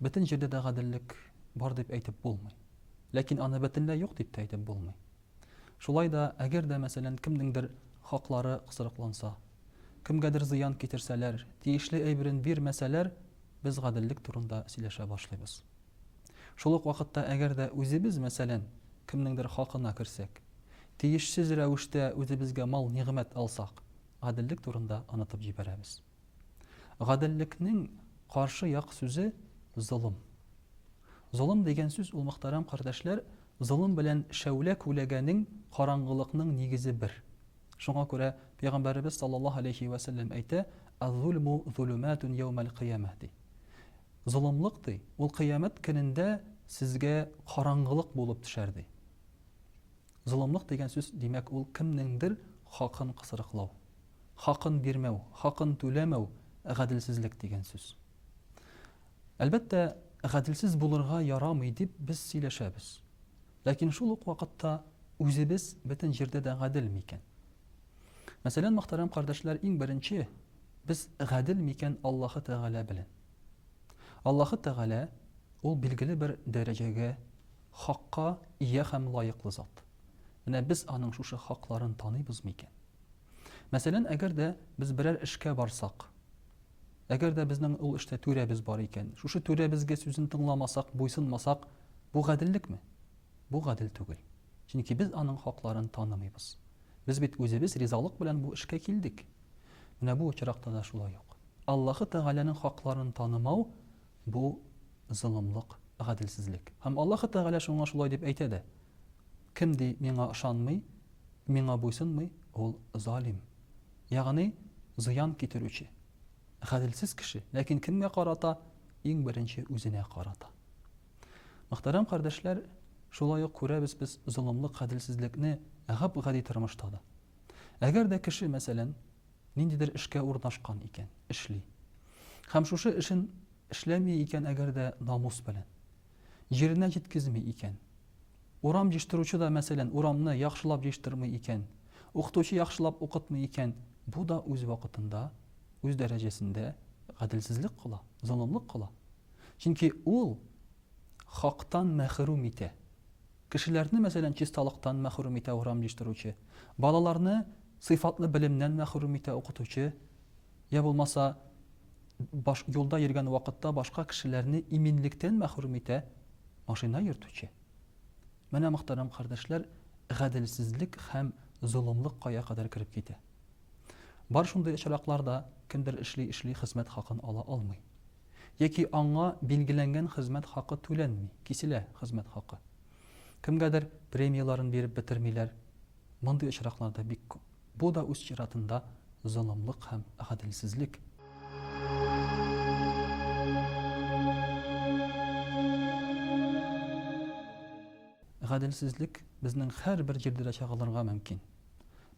Бөтен җирдә дә гаделлек бар дип әйтеп булмый. Ләкин аны бөтенләй юк дип тә әйтеп булмый. Шулай да, әгәр дә, мәсәлән, кемнеңдер хаклары кысрыкланса, кемгәдер зыян китерсәләр, тиешле әйберен бирмәсәләр, без гаделлек турында сөйләшә башлыйбыз. Шул ук вакытта, әгәр дә үзебез, мәсәлән, кемнеңдер хакына керсәк, тиешсез рәвештә үзебезгә мал-нигъмәт алсак, гаделлек турында онытып җибәрәбез. Гаделлекнең каршы як сүзе золым. Золым дигән сүз ул мөхтәрәм кардәшләр, золым белән шәүлә күләгәнең караңгылыкның нигезе бер. Шуңа күрә пәйгамбәребез саллаллаһу алейһи вә сәлләм әйтә, Аз-зулму зулуматун яумәл кыямә ди. Золымлык ди, ул кыямәт көнендә сезгә караңгылык булып төшәр ди. Золымлык дигән сүз, димәк, ул кемнеңдер хакын кысрыклау. хакын бирмәү, хакын түләмәү, гаделсезлек дигән сүз. Әлбәттә, гаделсез булырга ярамый дип без сөйләшәбез. Ләкин шул ук вакытта үзебез бөтен җирдә дә гадел микән? Мәсәлән, мөхтәрәм кардәшләр, иң беренче без гадел микән Аллаһы Тәгалә белән? Аллаһы Тәгалә ул билгеле бер дәрәҗәгә, хакка ия һәм лаеклы зат. Менә без аның шушы хакларын таныйбызмы икән? Мәсәлән, әгәр дә без берәр эшкә барсак, әгәр дә безнең ул эштә түрәбез бар икән, шушы түрәбезгә сүзен тыңламасак, буйсынмасак, бу гаделлекме? Бу гадел түгел. Чөнки без аның хакларын танымыйбыз. Без бит үзебез ризалык белән бу эшкә килдек. Менә бу очракта да шулай ук. Аллаһы Тәгаләнең хакларын танымау Бу, золымлык, гаделсезлек. Һәм Аллаһы Тәгалә шуңа шулай дип әйтә дә, Кем, ди, Миңа ышанмый, Миңа буйсынмый, ул, залим, ягъни зыян китерүче, гаделсез кеше, ләкин кемгә карата, иң беренче үзенә карата. Мөхтәрәм кардәшләр, шулай ук күрәбез без золымлык, гаделсезлекне гап-гади тормышта да. Әгәр дә кеше, мәсәлән, ниндидер эшкә урнашкан икән, эшли. Һәм шушы эшен эшләми икән әгәр дә намус белән. Җиренә җиткезми икән. Урам җыштыручы да, мәсәлән, урамны яхшылап җыштырмый икән, укытучы яхшылап укытмый икән, бу да үз вакытында, үз дәрәҗәсендә гаделсезлек кыла, золымлык кыла. Чөнки ул хактан мәхрүм итә. Кешеләрне, мәсәлән, чисталыктан мәхрүм итә урам җыештыручы, балаларны сыйфатлы белемнән мәхрүм итә укытучы, йә булмаса, баш, юлда йөргән вакытта башка кешеләрне иминлектән мәхрүм итә машина йөртүче. Менә, мөхтәрәм кардәшләр, гаделсезлек һәм золымлык кая кадәр кереп китә. Бар шундый очраклар да, кемдер эшли-эшли хезмәт хакын ала алмый. яки аңа билгеләнгән хезмәт хакы түләнми, киселә хезмәт хакы. Кемгәдер премияләрен биреп бетермиләр. Мондый очраклар да бик күп. Бу да үз чиратында золымлык һәм гаделсезлек. Гаделсезлек безнең һәрбер җирдә дә чагылырга мөмкин.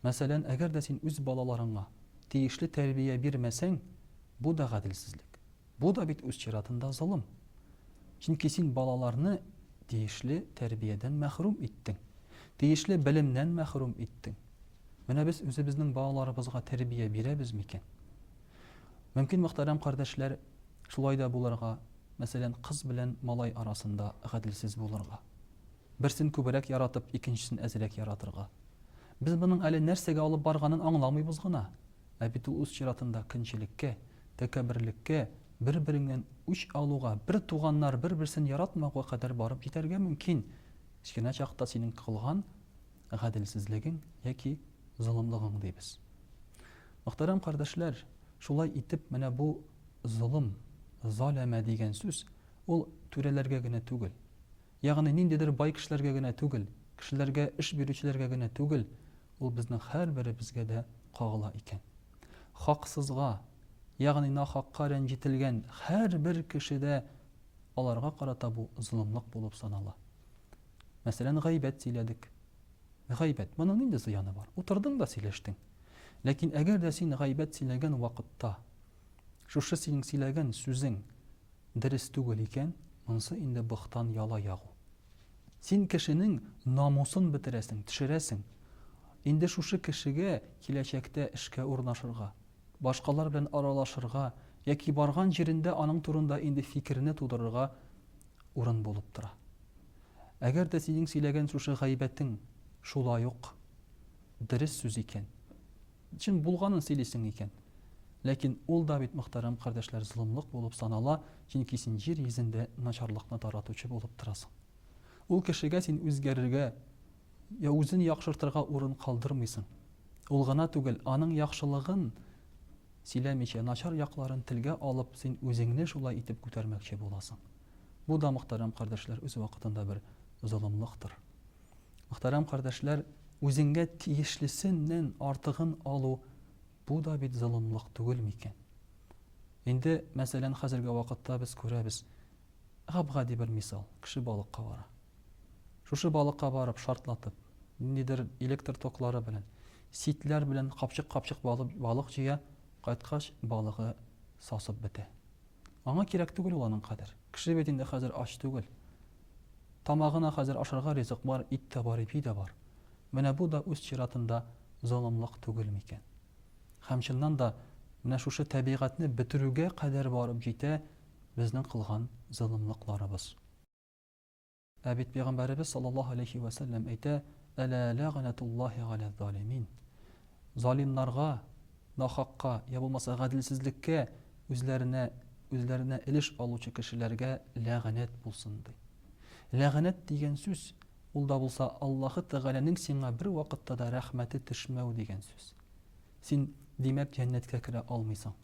Мәсәлән, әгәр дә син үз балаларыңа тиешле тәрбия бирмәсәң, бу да гаделсезлек. Бу да бит үз чиратында золым. Чөнки син балаларны тиешле тәрбиядән мәхрүм иттең, тиешле белемнән мәхрүм иттең. Менә без үзебезнең балаларыбызга тәрбия бирәбез микән? Мөмкин, мөхтәрәм кардәшләр, шулай да булырга, мәсәлән, кыз белән малай арасында гаделсез булырга. Берсен күбрәк яратып, икенчесен әзрәк яратырга. Без моның әле нәрсәгә алып барганын аңламыйбыз гына. Ә бит ул үз чиратында көнчелеккә, тәкәбберлеккә, бер-береңнән үч алуга, бер туганнар бер-берсен яратмауга кадәр барып җитәргә мөмкин. Кечкенә чакта синең кылган гаделсезлегең яки золымлыгың дибез. Мөхтәрәм кардәшләр, шулай итеп, менә бу золым, заләмә дигән сүз Ул түрәләргә генә түгел, ягъни ниндидер бай кешеләргә генә түгел, кешеләргә, эш бирүчеләргә генә түгел, ул безнең һәрберебезгә дә кагыла икән. Хаксызга, ягъни нахакка рәнҗетелгән һәрбер кешедә аларга карата бу золымлык булып санала. Мәсәлән, гайбәт сөйләдек. Гайбәт, моның нинди зыяны бар? Утырдың да сөйләштең. Ләкин әгәр дә син гайбәт сөйләгән вакытта Шушы синең сөйләгән сүзең дерес түгел икән, монсы инде быхтан яла ягу. Син кешенең намусын бетерәсең, төшерәсең. Инде шушы кешегә киләчәктә эшкә урнашырга, башкалар белән аралашырга яки барган җирендә аның турында инде фикерне тудырырга урын булып тора. Әгәр дә синең сөйләгән шушы гайбәтең шулай ук дерес сүз икән, Чын булганын сөйлисең икән. Ләкин ул да бит, мөхтәрәм кардәшләр, золымлык булып санала, чөнки син җир йөзендә начарлыкны таратучы булып торасың. Ул кешегә син үзгәрергә я үзен яхшыртырга урын калдырмыйсың. Ул гына түгел, аның яхшылыгын сөйләмичә, начар якларын телгә алып, син үзеңне шулай итеп күтәрмәкче буласың. Бу да, мөхтәрәм кардәшләр, үз вакытында бер золымлыктыр. Мөхтәрәм кардәшләр, үзеңгә тиешлесеннән артыгын алу, бу да бит золымлык түгел микән? Инде, мәсәлән, хәзерге вакытта без күрәбез, гап-гади бер мисал, кеше балыкка бара. Шушы балыкка барып, шартлатып, ниндидер электр токлары белән, ситләр белән капчык-капчык балык җыя, кайткач, балыгы сасып бетә. Аңа кирәк түгел ул аның кадер. Кеше бит инде хәзер ач түгел. Тамагына хәзер ашарга ризык бар, ит тә бар, ипи дә бар. Менә бу да үз чиратында золымлык түгел микән? Һәм чыннан да менә шушы тәбигатьне бетерүгә кадәр барып җитә безнең кылган золымлыкларыбыз. Ә бит пәйгамбәребез саллаллаһу аләйһи вә сәлләм әйтә, Әлә ләгънәтуллаһи галә залимин, залимнарга, нахакка, я булмаса гаделсезлеккә үзләренә үзләренә элеш алучы кешеләргә ләгънәт булсын, ди. Ләгънәт дигән сүз, ул да булса Аллаһы Тәгаләнең сиңа бер вакытта да рәхмәте төшмәү дигән сүз. Син, димәк, җәннәткә керә алмыйсың.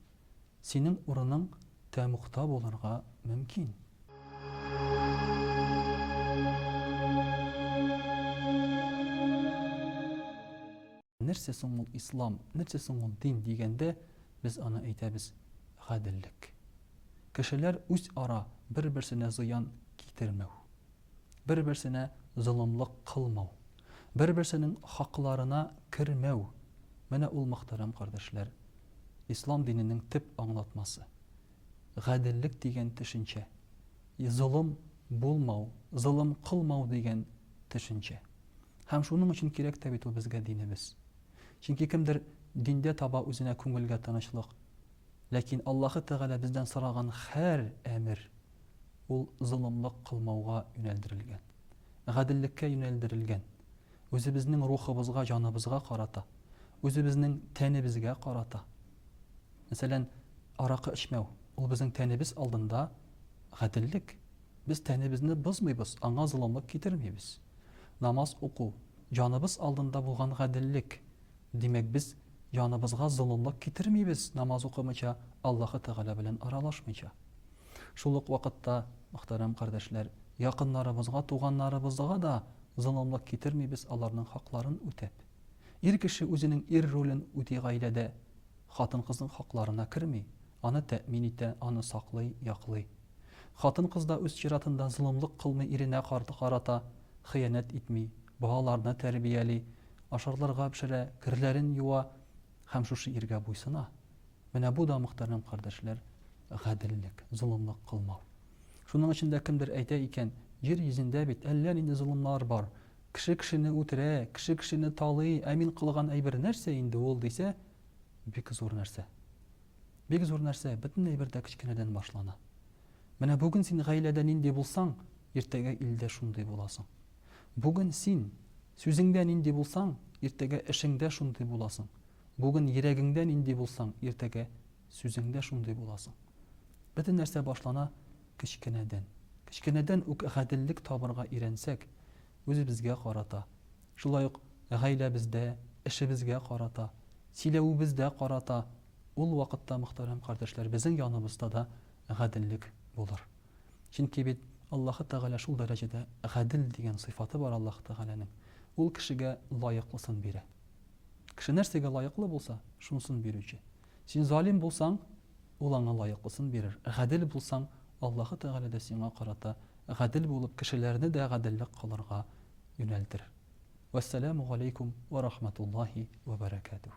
Синең урының тәмугта булырга мөмкин. Нәрсә соң ул ислам, нәрсә соң ул дин дигәндә, без аны әйтәбез, гаделлек. Кешеләр үзара бер-берсенә зыян китермәү, бер-берсенә золымлык кылмау. Бер-берсенең хакларына кермәү, менә ул, мөхтәрәм кардәшләр, Ислам диненең төп аңлатмасы. Гаделлек дигән төшенчә. Золым булмау, золым кылмау дигән төшенчә. Һәм шуның өчен кирәк тә бит ул безгә динебез. Чөнки кемдер диндә таба үзенә күңелгә тынычлык. Ләкин Аллаһы Тәгалә бездән сораган хәр әмер, ул золымлык кылмауга юнәлдерелгән. гаделлеккә юнәлдерелгән, үзебезнең рухыбызга, җаныбызга карата, үзебезнең тәнебезгә карата. Мәсәлән, аракы эчмәү, ул безнең тәнебез алдында гаделлек. Без тәнебезне бозмыйбыз, аңа золымлык китермибез. Намаз уку, җаныбыз алдында булган гаделлек. Димәк, без җаныбызга золымлык китермибез, намаз укымыйча, Аллаһы Тәгалә белән аралашмыйча. Шул ук вакытта, мөхтәрәм кардәшләр, якыннарыбызга, туганнарыбызга да золымлык китермибез, аларның хакларын үтәп. Ир кеше үзенең ир ролен үти гаиләдә, хатын-кызның хакларына керми, аны тәэмин итә, аны саклый, яклый. Хатын-кыз да үз чиратында золымлык кылмый иренә карата, хыянәт итми, балаларны тәрбияли, ашарларга пешерә, керләрен юа, Һәм шушы иргә буйсына. Менә бу да, мөхтәрәм кардәшләр, гаделлек, золымлык кылмау. Шуның өчен дә кемдер әйтә икән, Җир йөзендә бит әллә нинди золымнар бар. Кеше кешене үтерә, кеше кешене талый, ә мин кылган әйбер нәрсә инде ул, дисә, бик зур нәрсә. Бик зур нәрсә, бөтен әйбер дә кечкенәдән башлана. Менә бүген син гаиләдә нинди булсаң, иртәгә илдә шундый буласың. Бүген син Сүзеңдә нинди булсаң, иртәгә эшеңдә шундый буласың. Бүген йөрәгеңдә нинди булсаң, иртәгә сүзеңдә шундый буласың. Бөтен нәрсә башлана кечкенәдән. Кечкенәдән үк гаделлек табарга өйрәнсәк, үзебезгә карата, шулай ук гаиләбездә, эшебезгә карата, сөйләвебездә карата, ул вакытта, мөхтәрәм кардәшләр, безнең яныбызда да гаделлек булыр. Чөнки бит Аллаһы Тәгалә шул дәрәҗәдә Гадел дигән сыйфаты бар Аллаһы Тәгаләнең, Ул кешегә лаеклысын бирә. Кеше нәрсәгә лаеклы булса, шунысын бирүче. Син залим булсаң, Ул аңа лаеклысын бирер, гадел булсаң, Аллаһы Тәгалә дә сиңа карата гадел булып, кешеләрне дә гаделлек кылырга юнәлтер. Вәссәламү галәйкүм вә рахматуллаһи вә бәрәкәтүһ.